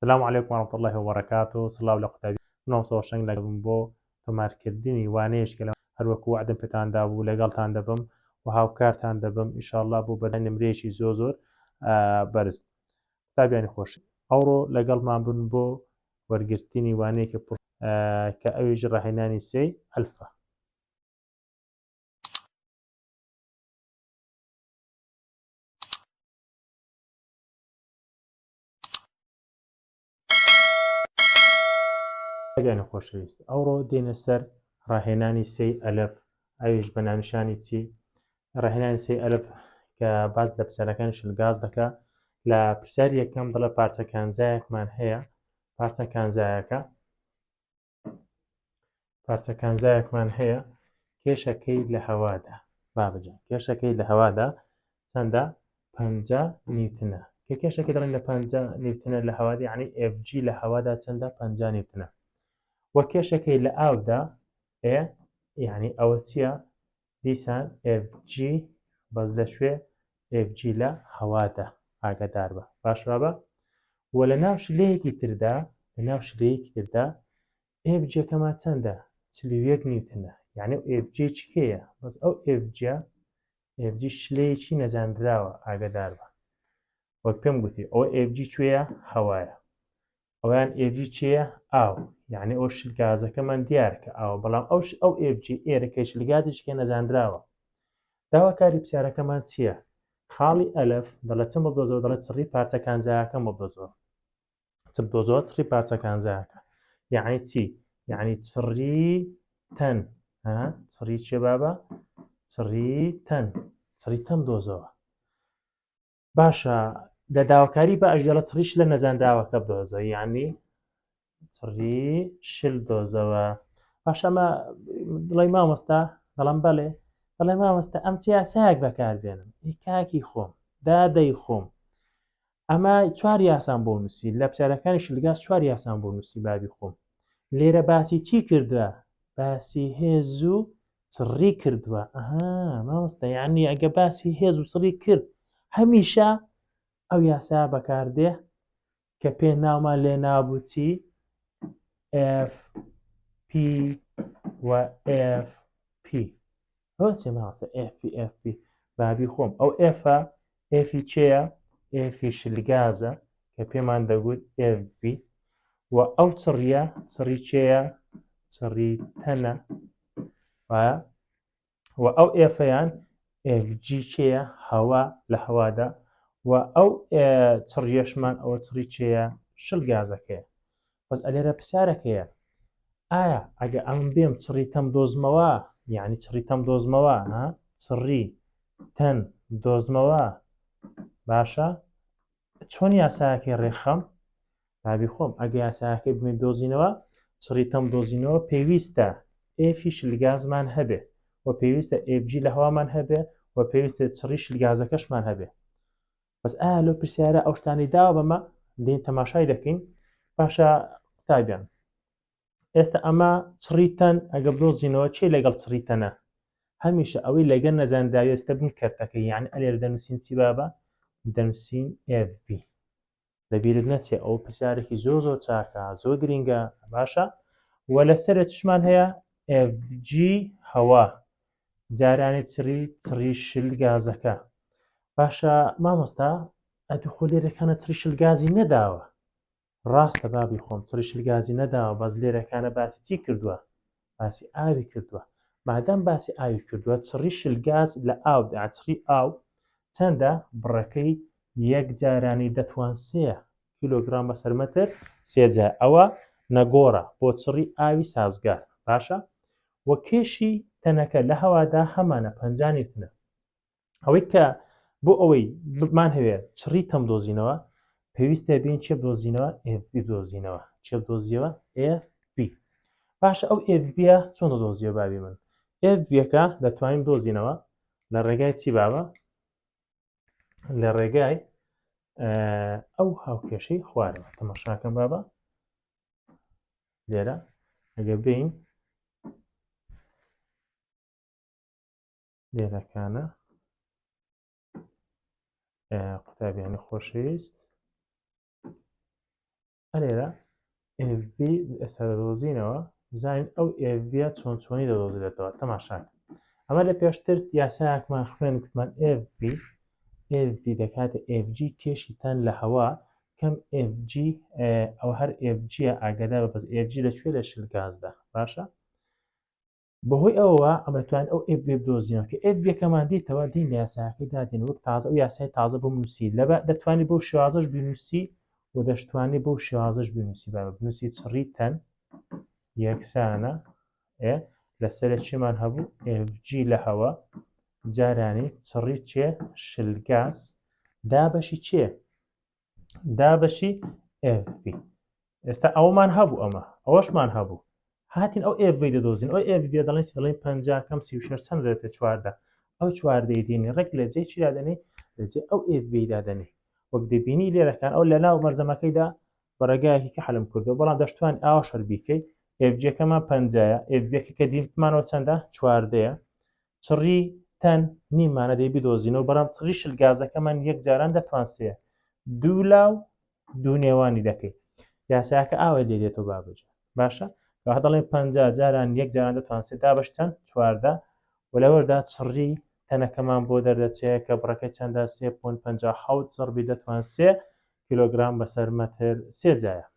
سلام علیکم ورحمة اللە وبرکاته سڵاو لە قوتابی منۆم سۆشەنگ لەگەڵم بۆ تۆمارکردنی وانەیەش کە هەروەکو وەعدم پێتان دابوو لەگەڵتان دەبم و هاوکارتان دەبم ان شاء اللە بۆ بەرهەی نمرەیەکی زۆر زۆر بەرز قوتابیانی خۆش ئەوڕۆ لەگەڵمان بن بۆ وەرگرتنی وانەیەکی پڕ کە ئەویش ڕاهێنانی سێی ئەلفە ئەگەنە خۆشەویست ئەوڕۆ دێنە سەر ڕاهێنانی سێ ئەلف ئەویش بە ناونیشانی چی ڕاهێنانی سێ ئەلف کە باز لە پرسیارەکانی شلگاز دەکە لە پرسیاری یەکەم دڵە پارچە کانزایەکمان هەیە پارچە کانزایەکە پارچە کانزایەکمان هەیە کێشەکەی لە هەوادا بابجان کێشەکەی لە هەوادا چەندە پ نیوتنە کە کێشەکە دەڵێن لە پ نیوتنە لە هەوادی عنی FG لە هەوادا چەندە پ نیوتنە وە کێشەکەی لە ئاودا ئێ یعنی ئەوە چییە دیسان ئێف جی بەس لە کوێ ئێف جی لە هەوادا ئاگادار بە باش وابە وە لە ناو شلەیەکی تردا لە ناو شلەیەکی تردا ئێف جەکەمان چەندە چل و یەک نیوتنە یعنی و ئێف جی چ کێیە بەس ئەو ئێف جە ئێف جی شلەیەکی نەزانراوە ئاگادار بە وەک پێم گوتی ئەو ئێف جی کوێیە هەوایە ئەویان ئێڤی چێە ئاو یعنی ئەو شل گازەکەمان دیارکە ئاوە بەڵام ئەوش ئەو ئێڤجی ئێرە کەشل گازیشکێ نەزانراوە داواکاری پرسیارەکەمان چییە؟ خاڵی ئەلف دەڵێت چ مەبدۆزۆ دەڵێت سڕی پارچە کانزایەکە مەبدۆزۆ چ بدۆزۆ سڕی پارچە کانزایەکە یعنی چی یعنی چڕی تەن چڕی چێ بابە چڕی تەن چڕی تەم دۆزەوە باشە لە داواکاری بە ئەژێڵە چڕیش لە نەزانراوەکە بدۆزە یعنی چڕی شل دۆزەوە باشەمە دڵی مامۆستا دەڵم بەڵێ دەڵێ مامۆستا ئەم چیاسایەک بەکاربێنم کاکی خۆم دادەی خۆم ئەمە چوار یاسان بۆ نووسی لە بچارەکانی شلگاز چوار یاسان بۆ نووسی بابی خۆم لێرە باسی چی کردە باسی هێز و سڕی کردووە ئەها مامۆستا یعنی ئەگە باسی هێز و سڕی کرد هەمیشە ئەو یاسا بەکاردێ کە پێ ناومان لێ نابووچی F P و F P هۆچێ ماوەسە F P F P بابی خۆم ئەو F F چەیە F شلگازە کە پێمان دەگوت F B و ئەو چڕیە چڕی چەیە چڕی تەنە وایە و ئەو ئێفەیان جیچەیە هەوا لە هەوادا و ئەو چڕیەشمان ئەوە چڕی چێە شل گازەکەیە بەس ئەلێرە پرسیارەکەیە ئایا ئەگە ئەم بێم چڕی تەم دۆزمەوە یعنی چڕی تەم دۆزمەوە چڕی تەن دۆزمەوە باشە چۆن یاساکەی ڕێکخەم بابی خۆم ئەگە یاساکەی بمێن دۆزینەوە چڕیتەم دۆزینەوە پێویستە ئێفی شلگازمان هەبێ و پێویستە ئێبجی لە هەوامان هەبێ و پێویستە چڕی شلگازەکەشمان هەبێ بەس ئا لۆ پرسیارە ئەو شتانی داوە بەمە دێن تەماشای دەکەین باشە قوتابیان ئێستا ئەمە چڕیتەن ئەگە بدۆزینەوە چێ لەگەڵ چڕیتەنە هەمیشە ئەوەی لەگەر نەزانراوێستە بن کەرتەکە یان ئەلێر دەنووسین چی بابە دەنووسین FB لەبیرت نەچێ ئەو پرسیارێکی زۆ زۆر چاکە زۆر گرنگە باشە و لەسەر چشمان هەیە FG هەوا جارانی چڕی چڕی شل گازەکە باشە مامۆستا ئەتوخۆ لێرەکانە چڕی شل گازی نەداوە ڕاستە بابی خۆم چڕیشل گازی نەداوە بەس لێرە کانە باسی چی کردووە باسی ئاوی کردووە مادام باسی ئاوی کردووە چڕی شل گاز لە ئاو داچڕی ئاو چەندە بڕەکەی یەک جارانی دەتوان سێ کیلۆگرام بەسەر مەتر سێجا ئەوە نەگۆڕە بۆ چڕی ئاوی سازگار باشە وە کێشی تەنەکە لە هەوادا هەمانە پەنجانی تنە ئەوەی کە بۆ ئەوەی بمان هەوێ چڕی تەم دۆزینەوە پێویستە بین چێ دۆزینەوە FB دۆزینەوە چێ دۆزیەوە FB باش ئەو FB چۆن دۆزیە بابی من FBەکە دەتوانین دۆزینەوە لە ڕێگای چی بابە لە ڕێگای ئەو هاوکێشەی خوارەوە تەمەشاکەم بابە لێرە ئەگە بین دێرەکانە قوتابیانی خۆشەویست ئەلێرە FB ئێستا دەدۆزینەوە بزانین ئەو FB چۆن چۆنی دەدۆزرێتەوە تەماشاک ئەمە لە پێشتر یاساکمان خوێن کوتمان FB FB دەکاتە FG کێشیتان لە هەوا کەم FG ئەو هەر FG ئاگەدا بە بەس FG لە کوێ لە شل گازدا باشە بەهۆی ئەوە ئەمە توان ئەو ئێپ وێب دۆزیەوە کە ئێپ یەکەمان دیتەوە دین لە یاساکەی دادێن وەک تازە و یاسای تازە بۆ نووسی لە دەتوانانی بۆ شێوازش بینوسی و دەشتوانانی بۆ شێوازش بینوسی بە بنووسی چڕی تەن یەکسانە لەسەر چێمان هەبوو FG لە هەوە جارانی چڕی چێ شلگاز دا بەشی چێ دابەشی FB ئێستا ئەومان هەبوو ئەمە ئەوەشمان هەبوو هاتین ئەو FB دەدۆزین ئەو FB دەڵێن دەڵێن 50 کەم 36 چەند دێتە چواردە ئەو چواردەی دێنی ڕێک لە جێ چی دادەنێ لە جێ ئەو FB دادەنێ وەک دەبینی لێرەکان ئەو لە ناو مەرزەمەکەیدا بەڕێگایەکی کە حلم کردو بەڵام دەشتوان ئاوا شەربیکەی FGەکەمان پەنجایە FGەکە کە دیمانەوە چەندە چواردەیە چڕی تەن نیمانە دەی بدۆزینەوە بەڵام چڕی شل گازەکەمان یەک جاران دەتوانسێ دوو لا و دوو نێوانی دەکەیت یاساکە ئاوای لێ دێتەوە بابجە باشە وە دەڵێ پ جاران یەک جاران دەتوانسێت دا بەش چەند چواردە و لەوەردا چڕی تەنەکەمان بۆ دەردەچەیە کە بڕەکە چەندە سێ پۆن پ حوت زڕبی دەتوانسێ کیلۆگرام بەسەر مەتر سێجایە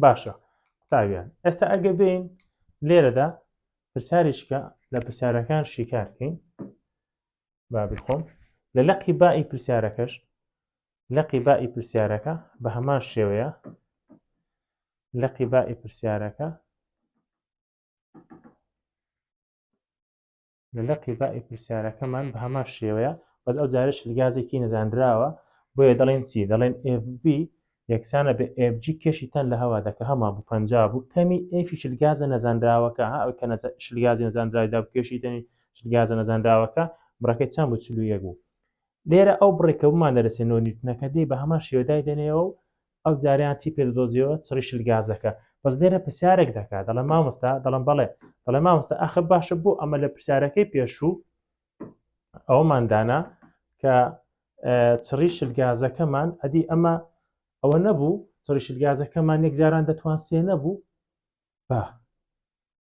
باشە قوتابیان ئێستا ئەگە بین لێرەدا پرسیارێکە لە پرسیارەکان شیکارکەین بابی خۆم لە لەقی بائی پرسیارەکەش لەقی بائی پرسیارەکە بە هەمان شێوەیە لەقی بائی پرسیارەکە لە لقی با ی پرسیارەکەمان بە هەمان شێوەیە بەس ئەو جارە شلگازێکی نەزانراوە بۆیە دەڵێن چی دەڵێن FB یەکسانە بە FG کێشی تەن لە هەوا دەکە هەمان بوو پەنجا بوو کەمی F شلگازە نەزانراوەکە ها ئەو کە نەزا شلگازی نەزانراوی دا کێشی تەنی شلگازە نەزانراوەکە بڕەکەی چەند بوو چل و یەک بوو لێرە ئەو بڕێکە بمان دەرەسێ نۆ نیوتنەکە دێ بە هەمان شێوە دای دەنێەوە و ئەو جارەیان چی پێ دەدۆزیەوە چڕی شل گازەکە بەس لێرە پرسیارێک دەکات دەڵێ مامۆستا دەڵم بەڵێ دەڵێ مامۆستا ئەخە باشە بۆ ئەمە لە پرسیارەکەی پێشوو ئەوماندانا کە چڕی شل گازەکەمان ئەدی ئەمە ئەوە نەبوو چڕی شل گازەکەمان یەک جاران دەتوان سێ نەبوو با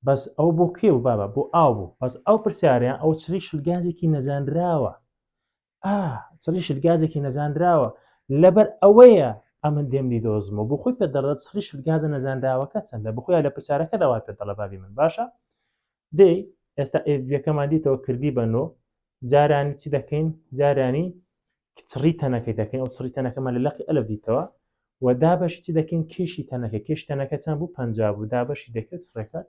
بەس ئەو بۆ کێ و بابە بۆ ئاو بوو بەس ئەو پرسیاریان ئەو چری شلگازێکی نەزانراوە سریشت گازێکی نەزانراوە لەبەر ئەوەیە ئەمن دێمنی دۆزمەوە بۆ خۆی پێ دەڕێت سریشت گازە نەزانراوەکە چەندە بخۆیان لە پرسیارەکە داوا پێ دەڵەبابی من باشە دێ ئێستا ئێڤەکەمان دیتەوە کردی بەنۆ جارانی چی دەکەین جارانی چڕی تەنەکەی دەکەین ئەو چڕی تەنەکەمان لە لەقی ئەلف دیتەوە و دابەشی چی دەکەین کێشی تەنەکە کێش تەنەکە چەند بوو پنج بوو دابەشی دەکرێت ڕێکە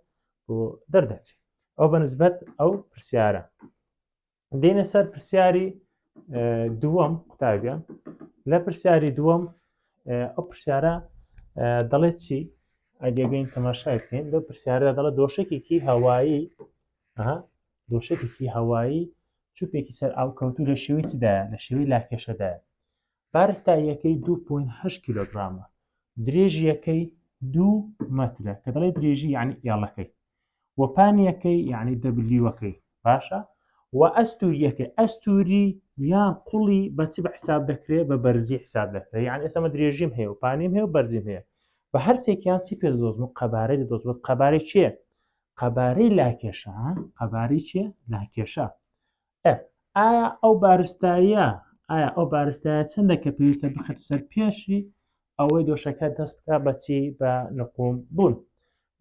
بۆ دەردەچێت ئەو بە نسبەت ئەو پرسیارە دێنە سەر پرسیاری دووەم قوتابیان لە پرسیاری دووەم ئەو پرسیارە دەڵێت چی ئەگەبین تەماشای بکەین لە پرسیارە دەڵە دۆشکێکی هەوایی دۆشکێکی هەوایی چوپێکی سەر ئاوکەوتو لە شێوی چدایە لە شێوی لاکێشەدایە بارستاییەکەی دوو پوین هەشت کیلۆگرامە درێژیەکەی دوو مەترە کە دەڵێ درێژی یعنی ئێڵەکەی و پانیەکەی یعنی دەبلیوەکەی باشە و ئەستوریەکەی ئەستوری یان قوڵی بەچ بە حساب دەکرێت بە بەرزی حساب دەکرێت یان ئێسمە درێژیم هەیە و پانیم هەیە و بەرزیم هەیە بە هەرسێکیان چی پێ دۆزم و قەبارەی دۆز بەس قەبارەی چێ قەبارەی لاکێشە قەباری چێ لاکێشە ئایا ئەو بارستاییە ئایا ئەو بارستایە چەندە کە پێویستە بخێتە سەر پێشی ئەوەی دۆشەکە دەست بکە بەچی بە نقوم بوون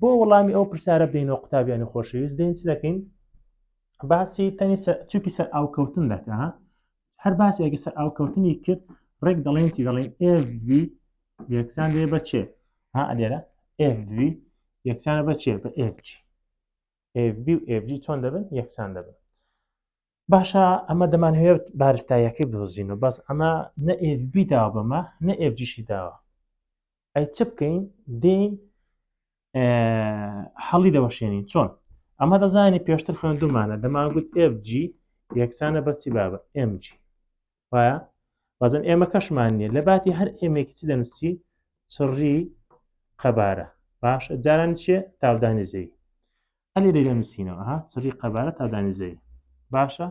بۆ وەڵامی ئەو پرسیارە بینەوە قوتابیانی خۆشەویست دێنس دەکەین باسی تەنی چوپی سەر ئاوکەوتن دەکە هەر باسی ئەگە سەر ئاوکەوتنی کرد ڕێک دەڵێن چی دەڵێن FV یەکسان دێ بە چێ ها ئەلێرە FV یەکسانە بە چێ بە FG FB و FG چۆن دەبن یەکسان دەبن باشە ئەمە دەمانهوێت بارستایەکەی بدۆزین و بەس ئەمە نە FB داوە بەمە نە FGشی داوە ئەی چ بکەین دێین حەڵی دەوەشێنین چۆن ئەمە دەزانی پێشتر خوێندومانە دەمانگووت FG یەکسانە بەچی بابە MG وایە بەزم ئێمە کەشمان نیە لە باتی هەر ئێمێکی چی دەنووسی چڕی قەبارە باش جاران چێ تاودانی زەی ئەلی لێرە نووسینەوە ها چڕی قەبارە تاودانی زەی باشە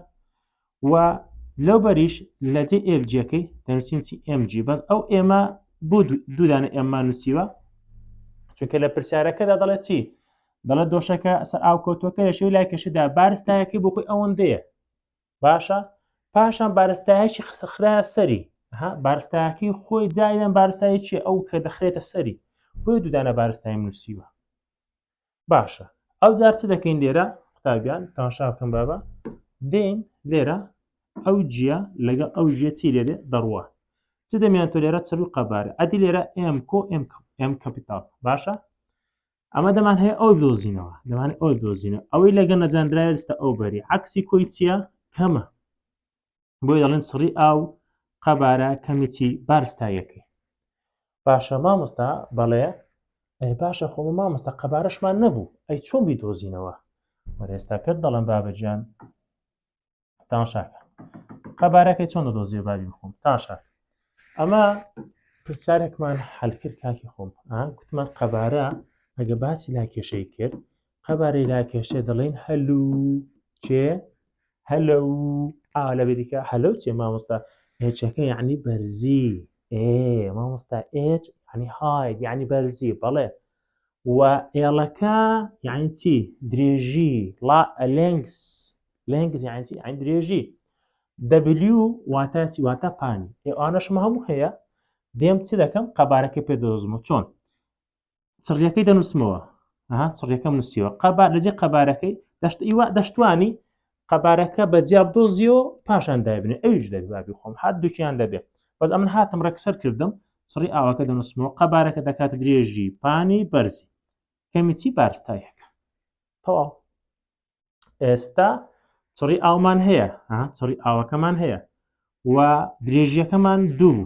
و لەو بەریش لە جێ ئێفجیەکەی دەنووسین چی ئمG بەس ئەو ئێمە بۆ دوودانە ئێممان نووسیوە چونکە لە پرسیارەکەدا دەڵێ چی دەڵێت دۆشەکە سەر ئاو کۆتۆکە لە شێو لای کەشدا بارستایەکەی بۆ خۆی ئەوەندەیە باشە پاشان بارستایەکی خستخرا سەری بارستاکی خۆی جایان بارستایەکی ئەو کە دەخرێتە سەری بۆی دوودانە بارستای نووسیوە باشە ئەو جار چ دەکەین لێرە قوتابیان تاشا بکەم بابە دێن لێرە ئەو جیە لەگەڵ ئەو ژێ چی لێرێ دەڕوە چ دەمیان تۆ لێرە چڕ و قەبارە ئەدی لێرە ئەم کۆ ئەم کەپیتال باشە ئەمە دەمان هەیە ئەو دۆزینەوە دەمان ئەو دۆزینە ئەوەی لەگە نەزانراێستا ئەو بەری عکسی کۆی چییە کەمە بۆی دەڵێن سڕی ئاو قەبارە کەمیی بارستایەکەی باشە مامۆستا بەڵێ ئەی باشە خۆ مامۆستا قەبارەشمان نەبوو ئەی چۆن بی دۆزینەوە وەێستا کرد دەڵم بابەجان تاشاکە قەبارەکەی چۆن دەدۆزیێ بابی بخۆم تاشاک ئەمە پرسیارێکمان حلکرد کاکی خۆم کوتمان قەبارە ئەگە باسی لا کێشەی کرد قەبارەی لا کێشێ دەڵێن هەلو چێ هەلە و ئا لە بریکە هەلو چێ مامۆستا هێچەکە یعنی بەرزی ئێ مامۆستا ئێج ینی هاید ینی بەرزی بەڵێ و ئێڵەکە یعنی چی درێژی ڵا لێنگس لێنگس یعنی چی یعنی درێژی دەبلیو واتە چی واتە پانی ئێوانەشمە هەموو هەیە دێم چ دەکەم قەبارەکە پێ دەدۆزمە چۆن چڕیەکەی دەنووسمەوە ها چڕیەکەم نووسیوە قەبار لەجێ قەبارەکەی دەشت ئیوە دەشتوانی قەبارەکە بە جیاب دۆزیۆ پاشان دابنێ ئەویش دەبی بابی خۆم هەر دوچیان دەبێت بەس ئەمن هاتم ڕێکسەر کردم سڕی ئاواکە دەنووسمەوە قەبارەکە دەکات درێژی پانی بەرزی کەمیچی بارستایەکە تەواو ئێستا چڕی ئاومان هەیە چڕی ئاوەکەمان هەیە و درێژیەکەمان دوو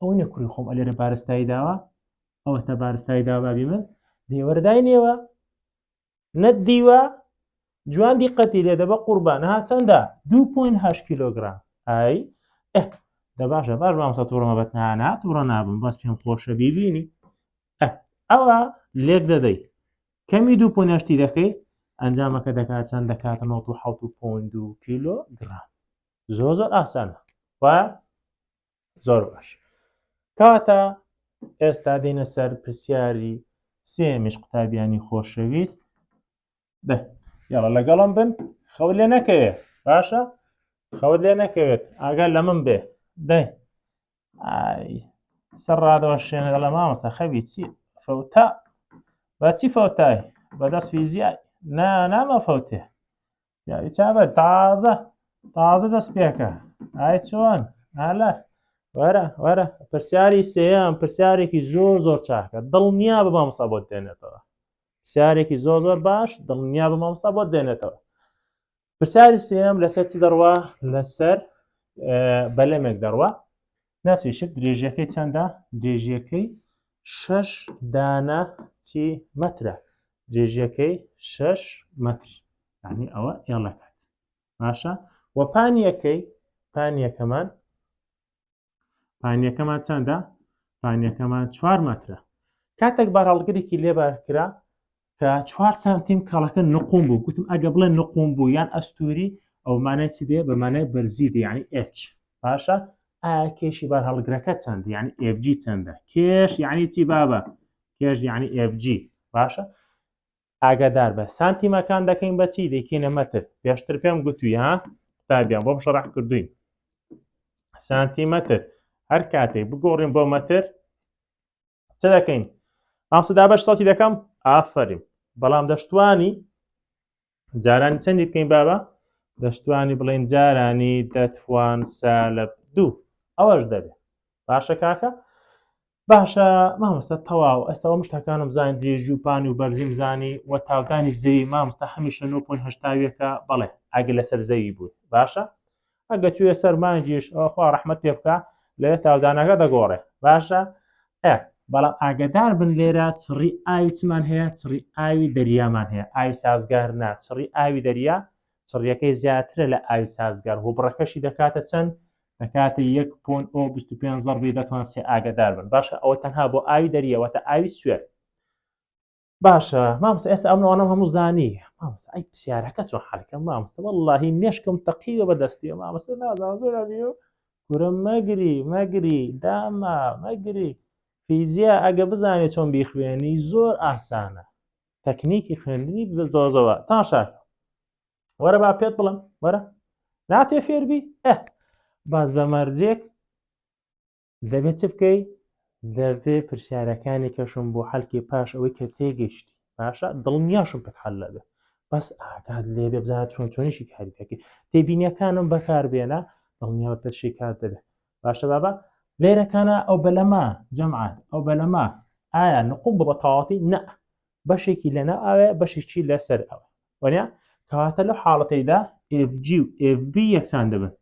ئەوە نیە کوڕی خۆم ئەلێرە بارستایی داوە ئەوە تا بارستایی دا بابی من دێوەردای نێوە نەت دیوە جوان دیقەتی لێ دەبە قوربان ها چەندە 2.8 کیلوگرام ئای دە باشە باش بامسە تووڕمە بەتنانە تووڕە نابم بەس پێم خۆشە بیبینی ئەوە لێک دەدەی کەمی دوو پۆنیشتی دەکەی ئەنجامەکە دەکات چەند دەکات 1970 کیلو گرام زۆ زۆر ئاسانە و زۆر باش کاتە ئێستا دێنە سەر پرسیاری سێمیش قوتابیانی خۆشەویست بە یاڵە لەگەڵم بن خەو لێ نەکەوێت باشە خەوت لێ نەکەوێت ئاگەر لە من بێ دەی سەر ڕادەوە شوێنە لە مامەستا خەوی چی فەوتا بەچی فەوتای بەدەست فیزیای نا نامە فەوتێ پیاوی چابە تازە تازە دەست پێکە ئای چۆن هەلە وەرە وەرە پرسیاری سێیان پرسیارێکی زۆر زۆر چاکە دڵنیا بە مامسا بۆت دێنێتەوە پرسیارێکی زۆر زۆر باش دڵنیا بە مامسا بۆت دێنێتەوە پرسیاری سێم لەسەر چ دەڕوا لەسەر بەلەمێک دەڕوا ناچێ شت درێژیەکەی چەندە درێژیەکەی شەش دانە چی مەترە درێژیەکەی شەش مەتر ینی ئەوە ئێڵەکات باشە و پانیەکەی پانیەکەمان پانیەکەمان چەندە پانیەکەمان چوار مەترە کاتێک بارهەڵگرێکی لێبار کرا کە چوار سانتیم کاڵەکە نقوم بوو گوتم ئەگە بڵێ نقوم بوو یان ئەستوری ئەو مانای چ دێ بەمانای بەرزی دێ ینی ئچ باشە ئایا کێشی بار هەڵگرەکە چەند ینی FG چەندە کێش یعنی چی بابە کێش یعنی FG باشە ئاگادار بە سانتیمەکان دەکەین بەچی دەکەینە مەتر پێشتر پێم گوتوی ها قوتابیان بۆم شەڕح کردوین سانتیمەتر هەر کاتێک بگۆڕین بۆ مەتر چ دەکەین مامسە دابش سەڵتی دەکەم ئافریم بەڵام دەشتوانی جارانی چەندی بکەین بابا دەشتوانی بڵێن جارانی دەتوان سا لە دوو ئەوەش دەبێت باشە کاکە باشە مامۆستا تەواو ئەستەوە مشتەکانم زان درێژی و پانی و بەرزیم زانی و تاوتانی زەوی مامستا هەمیشە 9.هشتاویەکە بەڵێ ئەگە لەسەر زەوی بوو باشە ئەگە چویە سەر مانگیش خوا ڕحمت پێ بکە لێ تاودانەکە دەگۆڕێ باشە ئە بەڵام ئاگدار بن لێرە چڕی ئاوی چمان هەیە چڕی ئاوی دەریامان هەیە ئاوی سازگار نا چڕی ئاوی دەریا چڕیەکەی زیاترە لە ئاوی سازگار و بڕەکەشی دەکاتە چەند دەکاتە یەک پۆن ئۆ 25 زەڕبی دەتوان سێ ئاگدار بن باشە ئەوە تەنها بۆ ئاوی دەریەوە تا ئاوی سوێت باشە مامسە ئێستا ئەم نوانم هەموو زانی مامسە ئەی پرسیارەکە چۆن حالکەم مامسە واللهی مێشکم تەقیوە بە دەستی مامسە نازان زۆر ئەبیو کورە مەگری مەگری داما مەگری فیزیا ئەگە بزانێ چۆن بیخوێنی زۆر ئاسانە تەکنیکی خوێندنی دۆزەوە تا شاکە وەرە با پێت بڵم وەرە ناتێ فێربی ئە باز بە مەرجێک دەبێ چ بکەی؟ دەبێ پرسیارەکانی کەشم بۆ حەلکێ پاش ئەوەی کە تێگەشتی باشە دڵنیاشم پێت حەل لەبێ بەس ئاگات لێ بێ بزانە چۆن چۆنیشی کاری دەکەی تێبینیەکانم بەکاربێنە دڵنیاوە پێت شیکات دەبێت باشە بابا لێرەکانە ئەو بەلەما جەمعات ئەو بەلەما ئایا نقوم بە بەتەواتی نە بەشێکی لەنا ئاوێ بەشێکی لەسەر ئەوە وەنیا کەواتە لەو حاڵەتەیدا FG و FB یەکسان دەبن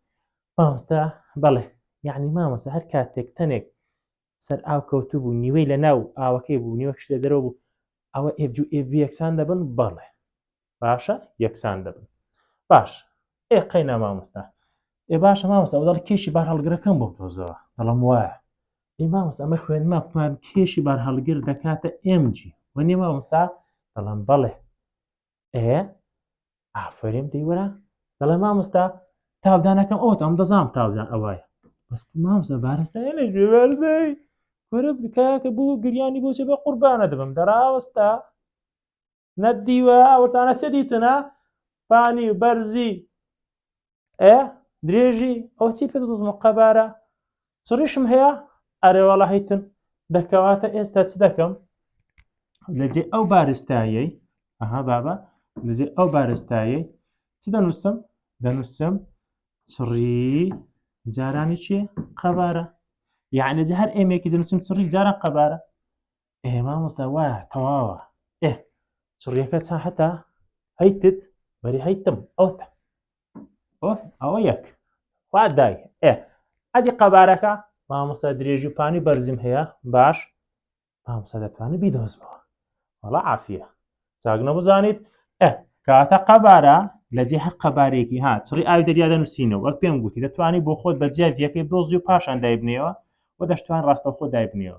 مامۆستا بەڵێ یعنی مامۆستا هەر کاتێک تەنێک سەر ئاو کەوتو بوو نیوەی لە ناو ئاوەکەی بوو نیوەکش لە دەرەوە بوو ئەوە ئێبجو ئێبی یەکسان دەبن بەڵێ باشە یەکسان دەبن باش ئێ قەینا مامۆستا ئێ باشە مامۆستا ئەو دەڵ کێشی بار هەڵگرەکەم بۆ تۆزەوە دەڵم وایە ئێ مامۆستا ئەمە خوێنما قوتمان کێشی بار هەڵگر دەکاتە ئێمجی وەنێ مامۆستا دەڵم بەڵێ ئێ ئافرین دەی وەرە دەڵێ مامۆستا تاودانەکەم ئەوت ئەم دەزانام تاودان ئەوایە بەس مامۆستا بارستای لە گوێ بارزای وەرە بکاکە بۆ گریانی بۆچە بە قوربانە دەبم دەراوەستا نەدیوە ئەوتانە چە دیتنە پانی و بەرزی ئە درێژی ئەو چی پێ دەزمە قەبارە چڕیشم هەیە ئەرێواڵە هەیتن دەکەواتە ئێستا چ دەکەم لەجێ ئەو بارستایەی ئەها بابە لەجێ ئەو بارستایەی چ دەنووسم دەنووسم چڕی جارانی چێ قەبارە یعنی جە هەر ئێمێکی دەنووسم چڕی جاران قەبارە ئێ مامۆستا وایە تەواوە ئێ چڕیەکە چا هەتا هەیتت بەری هەیتم ئەوتە ئەوە یەک وا دای ئێ ئەدی قەبارەکە مامۆستا درێژی و پانی بەرزیم هەیە باش مامۆستا دەتوانانی بیدۆزمەوە وەڵا عافە چاگنە بزانیت ئە کاتە قەبارە لە جێ هەر قەبارێکی ها چڕی ئاوی دەریا دەنووسینەوە وەک پێم گوتی دەتوانانی بۆ خۆت بە جیاجیەکەی بۆزی و پاشان دایبنەوە و دەشتوان ڕاستەخۆ دایبنەوە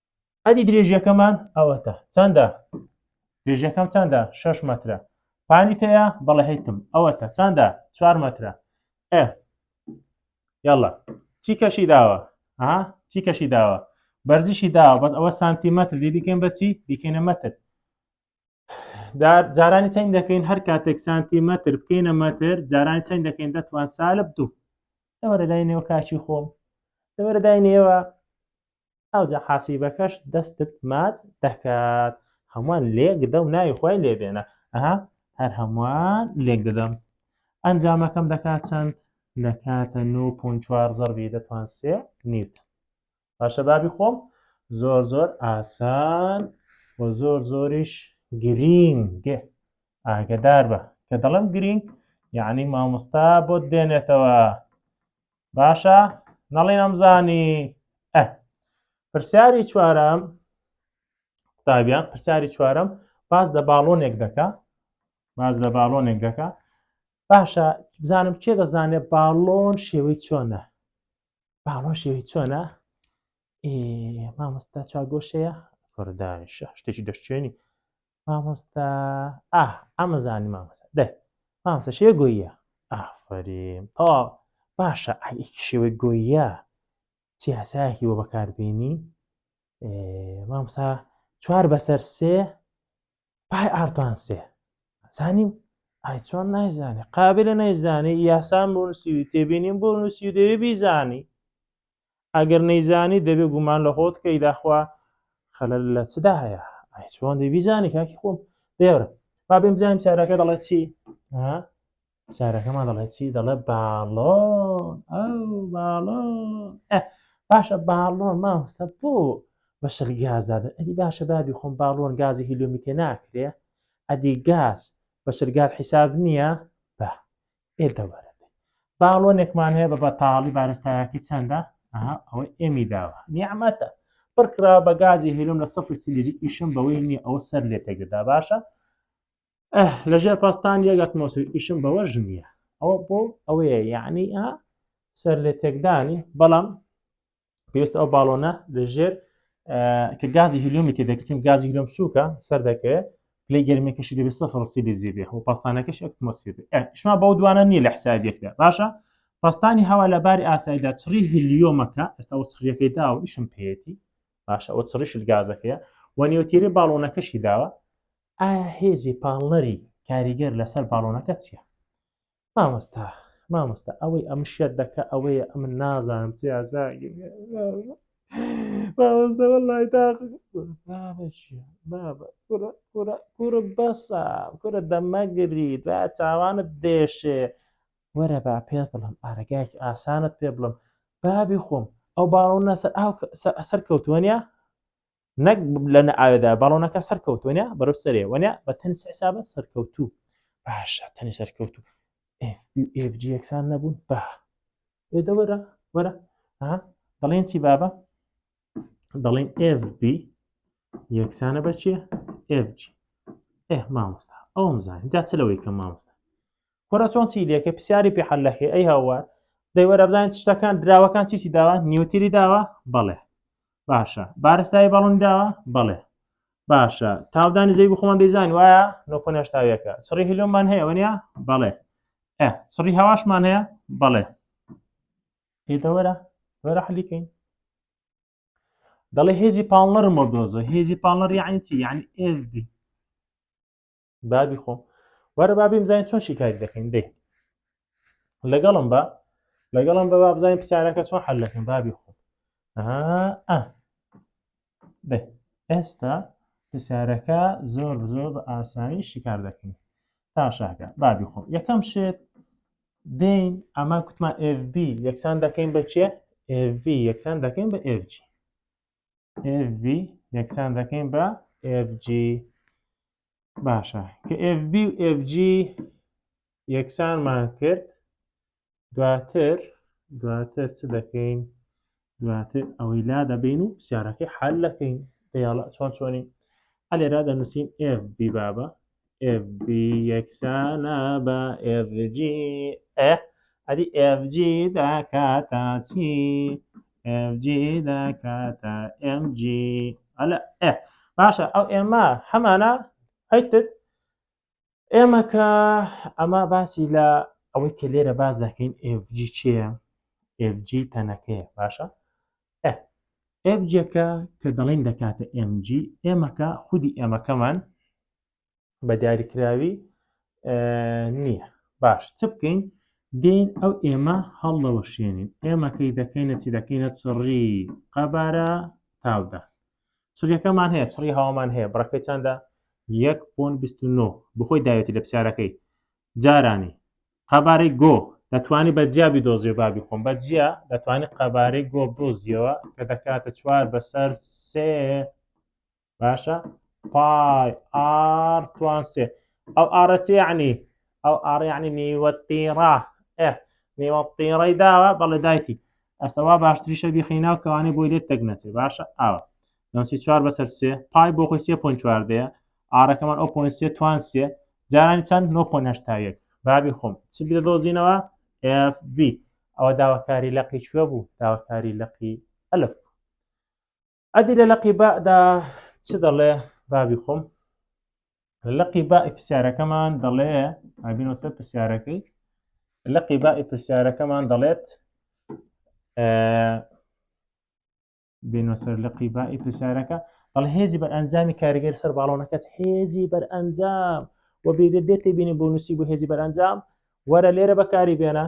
ئەدی درێژیەکەمان ئەوەتە چەندە درێژیەکەم چەندە شش مەترە پانی تەیە بەڵێ هەیتم ئەوەتە چەندە چوار مەترە ئە یاڵە چی کەشی داوە ها چی کەشی داوە بەرزیشی داوە بەس ئەوە سانتیمەتر دی دیکەین بەچی دیکەینە مەتر جارانی چەند دەکەین هەر کاتێک سانتیمەتر بکەینە مەتر جارانی چەند دەکەین دەتوان سالب دوو لەوەرەدای نێوە کاچی خۆم لەوەرەدای نێوە ئەوجا حاسیبەکەش دەستت ماچ دەکات هەمووان لێک دە و ناوی خۆی لێبێنە ئەها هەر هەمووان لێک دەدەم ئەنجامەکەم دەکات چەند دەکاتە 9.4 زەربی دەتوان سێ نیت باشە بابی خۆم زۆر زۆر ئاسان و زۆر زۆریش گرینگ ئاگدار بە کە دەڵم گرینگ یعنی مامۆستا بۆت دێنێتەوە باشە نەڵێ نەمزانی ئە پرسیاری چوارم قوتابیان پرسیاری چوارم باز لە باڵۆنێک دەکە باز لە باڵۆنێک دەکە باشە بزانم چێ دەزانێت باڵۆن شێوەی چۆنە باڵۆن شێوەی چۆنە مامۆستا چاگۆشەیە کوردانشە شتێکی دەشتێنی مامۆستا ئاه ئەمەزانی مامۆستا دەی مامۆستا شێوە گۆییە ئافرین تەواو باشە ئەیکی شێوەی گۆییە چی هەسایەکی وە بەکاربیێنی مامسا چوار بەسەر سێ پای ئارتان سێ زانیم ئای چۆن نایزانێ قابلە نایزانێ یاسان بۆ نووسی تێبینیم بۆ نووسی دەوێ بیزانی ئەگەر نەیزانی دەبێ گومان لە خۆت کەی داخوا خەلەل لە چدا هەیە ئای چۆن دەی بیزانی کاکی خۆم دێرە با بێم بزانین چارەکە دەڵێ چی چارەکەمان دەڵێ چی دەڵێ باڵۆن ئەو باڵۆن باشە باڵۆن ماوەستە بۆ بەشەر گازدادە ئەدی باشە بابی خۆم باڵۆن گازی هیلومی تێ ناکرێ ئەدی گاز بەشەر گاز حیساب نییە بە ئێ دەوەرە باڵۆنێکمان هەیە بە بەتاڵی بارستایەتی چەندە ئەوەی ئێمی داوە نیعممەتە پڕکرا بە گازی هێلم لە سەفر سلیزی ئیشم بەوەی نییە ئەوە سەر لێ تێگەدا باشە لەژێر پاستان یەگەت مۆسی ئیشم بەوە ژنیە ئەوە بۆ ئەوەیە یعنی سەر لێ تێکدانی بەڵام پێست ئەو باڵۆنە لەژێر کە گازی هلیۆمی تێ دەکەین گازی هلیۆم سووکە سەر دەکەوێت پلی گەرمی کەشی دەبێت سەفر سی دەزی بێ و پاستانەکەش ئەکمۆسفێر شما بەو دوانە نییە لە حسابێکدا باشە پاستانی هەوا لە باری ئاسایدا چڕی هلیۆمەکە ئێستا و چڕیەکەی دا و ئیشم پێێتی باشە ئەو چڕیش گازەکەیە و نێوتێری باڵۆنەکەشی داوە ئایا هێزی پاڵنەری کاریگەر لەسەر باڵۆنەکە چییە مامۆستا مامۆستا ئەوەی ئەم شێت دەکە ئەوەیە ئەم نازانم چ یازاگی مامۆستەوە لای کورە بەسە کورە دەمەگری دا چاوانت دێشێ وەرە با پێ بڵم ئارەگایکی ئاسانت پێ بڵم بابی خۆم ئەو باڵۆنە سەر ئاو سەر کەوتووەە نەک لە نەئاوێدا باڵۆنەکە سەرکەوتونە بەرەو سەرێ وەنە بە تەنس حسابە سەرکەوتوو باشە تەنی سەرکەوتوو FG یەکسان نەبوون با ئێدە وەرە وەرە دەڵێن چی بابە دەڵێن FB یەکسانە بە چیە FG ئێ مامۆستا ئەوم زانین جا چ لەوەی کە مامۆستا کۆرە چۆن چی لەکە پرسیاری پێ حل لەکەی ئەی هاوار دەیوەرە بزانین شتەکان دراوەکان چیسی داوە نیوتری داوە بەڵێ باشە بارستایی بەڵم داوە بەڵێ باشە تاودانی زەوی بخۆمان دەیزان وایە نۆکۆنشتاویەکە سڕی هلۆمان هەیە وەنیا بەڵێ سڕی هەواشمان هەیە بەڵێ هێتەوەرە وەرە حلیکەین دەڵێ هێزی پاڵنەر مۆدۆزە هێزی پاڵنەر یعنی چی یعنی ئێزدی بابی خۆم وەرە با بمزانین چۆن شیکاری دەکەین دێ لەگەڵم بە لەگەڵم بە بابزانین پرسیارەکە چۆن حل دەکەم بابی خۆم دێ ئێستا پرسیارەکە زۆر زۆر بە ئاسانی شیکار دەکەین تا شاکە بابی خۆم یەکەم شێت دین ئەمە کوتمان FB یەکسان دەکەین بە چێ FV یەکسان دەکەین بە FG FB یەکسان دەکەین بە FG باشە کە FB و FG یەکسانمان کرد دواتر دواتر چ دەکەین دواتر ئەوەی لا دەبین و پرسیارەکەی حل دەکەین دەیاڵە چۆن چۆنی ئەلێرا دەنووسین FB بابە FB یەکسانە بە FG ئە ئەدی FG دەکاتە چی FG دەکاتە MG ئەلە ئە باشە ئەو ئێمە هەمانە هەیتت ئێمە کە ئەمە باسی لە ئەوەی کە لێرە باز دەکەین FG چیە FG تەنەکەیە باشە FGەکە کە دەڵێن دەکاتە MG ئێمەکە خودی ئێمەکەمان بە دیاریکراوی نییە باش چ بکەین دێین ئەو ئێمە هەڵدەوەشێنین ئێمەکەی دەکەینە چی دەکەینە چڕی قەبارە تاودا چڕیەکەمان هەیە چڕی هاوامان هەیە بڕەکەی چندە 1.29 بخۆی داوێتی لە پرسیارەکەی جارانی قەبارەی گۆ دەتوانی بە جیابی دۆزیێ بابی خۆم بە جیا دەتوانانی قەبارەی گۆ دۆزیەوە کە دەکاتە چوار بەسەر سێ باشە پای ئار توان سێ ئەو ئارە چی یعنی ئەو ئار یعنی نیوە تیڕا ئێ نیوە تیڕەی داوە بەڵێ دایتی ئەسەوا باشتریشە بیخیناو کەوانەی بۆی لێت تەک نەچێ باشە ئاوە نوسی چوار بەسەر سێ پای بۆ خۆی سێ پۆن چواردەیە ئارەکەمان ئەو پۆن سێ توان سێ جارانی چەند نۆ پۆن هەشتا یەک بابی خۆم چ بێ دۆزینەوە FB ئەوە داواکاری لەقی کوێ بوو داواکاری لەقی ئەلف ئەدی لە لەقی بادا چ دەڵێ بابی خۆم لە لەقی بائی پرسیارەکەمان دەڵێ ئابینەوە سەر پرسیارەکەی لەقی بائی پرسیارەکەمان دەڵێت بینەوە سەر لەقی بائی پرسیارەکە بەڵ هێزی بەر ئەنجامی کاریگەر سەر باڵۆنەکەت هێزی بەر ئەنجام و بێدێت دێتێ بینی بۆ نووسی بۆ هێزی بەرەنجام وەرە لێرە بەکاری بێنە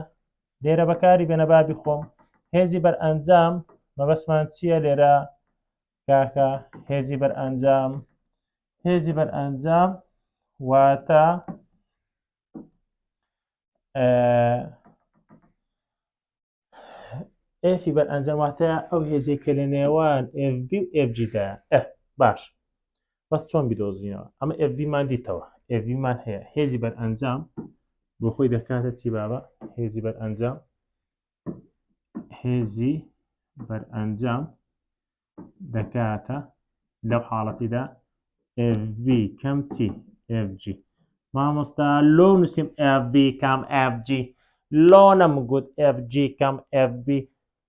لێرە بەکاری بێنە با بیخۆم هێزی بەرئەنجام مەبەستمان چییە لێرە کاکە هێزی بەرئەنجام هێزی بەرئەنجام واتە ئێفی بەرئەنجام واتە ئەو هێزێکە لە نێوان FB و FGدا باش بەس چۆن بیدۆزینەوە ئەمە ئێڤیمان دیتەوە ئێڤیمان هەیە هێزی بەر ئەنجام بۆ خۆی دەکاتە چی بابە هێزی بەر ئەنجام هێزی بەر ئەنجام دەکاتە لەو حاڵەتیدا FV کەم چی FG مامۆستا لۆ نووسیم FB کەم FG لۆ نەمگوت FG کەم FB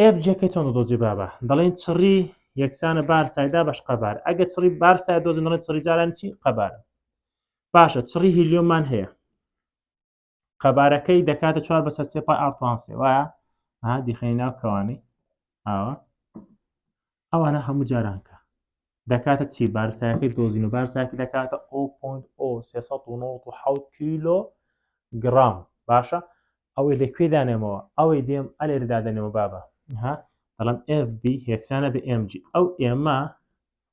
ئێف جەکە چۆن دۆزی بابە دەڵێن چڕی یەکسانە بار سایدا بەش قەبار ئەگە چڕی بار سای دۆزن دەڵێن چڕی جاران چی قەبار باشە چڕی هیلیۆمان هەیە قەبارەکەی دەکاتە چوار بەسەر سێپا ئاپانسێ وایە دیخەی ناو کەوانی ئاوە ئەوانە هەموو جاران کە دەکاتە چی بارستایەکەی دۆزین و بارساکی دەکاتە ئۆ پۆنت ئۆ حوت کیلۆ گرام باشە ئەوەی لە کوێ دانێمەوە ئەوەی دێم ئەلێر دادەنێەوە بابە ها دەڵم FB هێکسانە بە MG ئەو ئێمە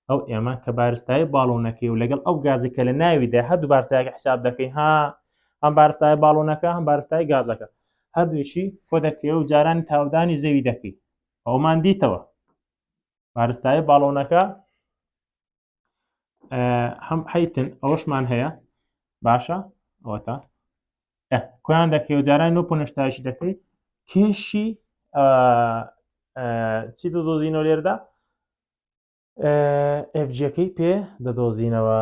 ئەو ئێمە کە بارستای باڵۆنەکەی و لەگەڵ ئەو گازی کە لە ناویدا هەردوو بارسایەکە حساب دەکەین ها ئەم بارستای باڵۆنەکە هەم بارستای گازەکە هەردووشی خۆ دەکرێ و جارانی تاودانی زەوی دەکەیت ئەومان دیتەوە بارستایە باڵۆنەکە هەم حیتن ئەوەشمان هەیە باشە ئەوە تا کویان دەکەی و جاران نۆ پۆنشتایشی دەکەی کێشی چی دۆزینەوە لێردا ئفجیەکەی پێ دەدۆزینەوە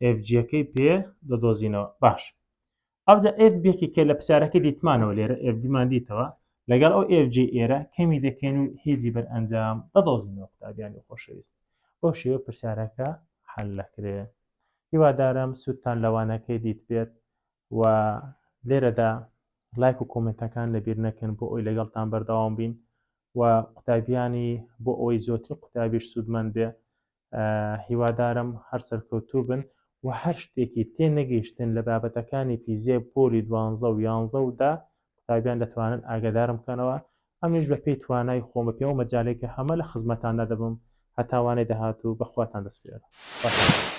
ئفجیەکەی پێ دەدۆزینەوە باش ئەوجا ئف بێکی کە لە پرسیارەکە دیتمانەوە لێرە ئفمان دیتەوە لەگەڵ ئەو ئفج ئێرە کەمی دەکەین و هێزی بەر ئەنجام دەدۆزینەوە قوتابیانی خۆشەویست بۆ شێوە پرسیارەکە حل لەکرێ هیوادارم سوودتان لەوانەکەی دیت بێت و لێرەدا لایک و کۆمنتەکان لەبیر نەکەن بۆ ئەوی لەگەڵتان بەردەوام بین و قوتابیانی بۆ ئەوەی زۆرتر قوتابیش سوودمەند بێ هیوادارم هەر سەرکەوتوو بن و هەر شتێکی تێ نەگەیشتن لە بابەتەکانی فیزیای پۆلی دوانزە و یانزە و دە قوتابیان دەتوانن ئاگادارم بکەنەوە ئەمنیش بە پێی توانای خۆم بە پێی ئەو مەجالەی کە هەمە لە خزمەتاندا دەبم هەتا وانەی داهاتوو بە خواتان دەسپێرم خواتان لەگەڵ.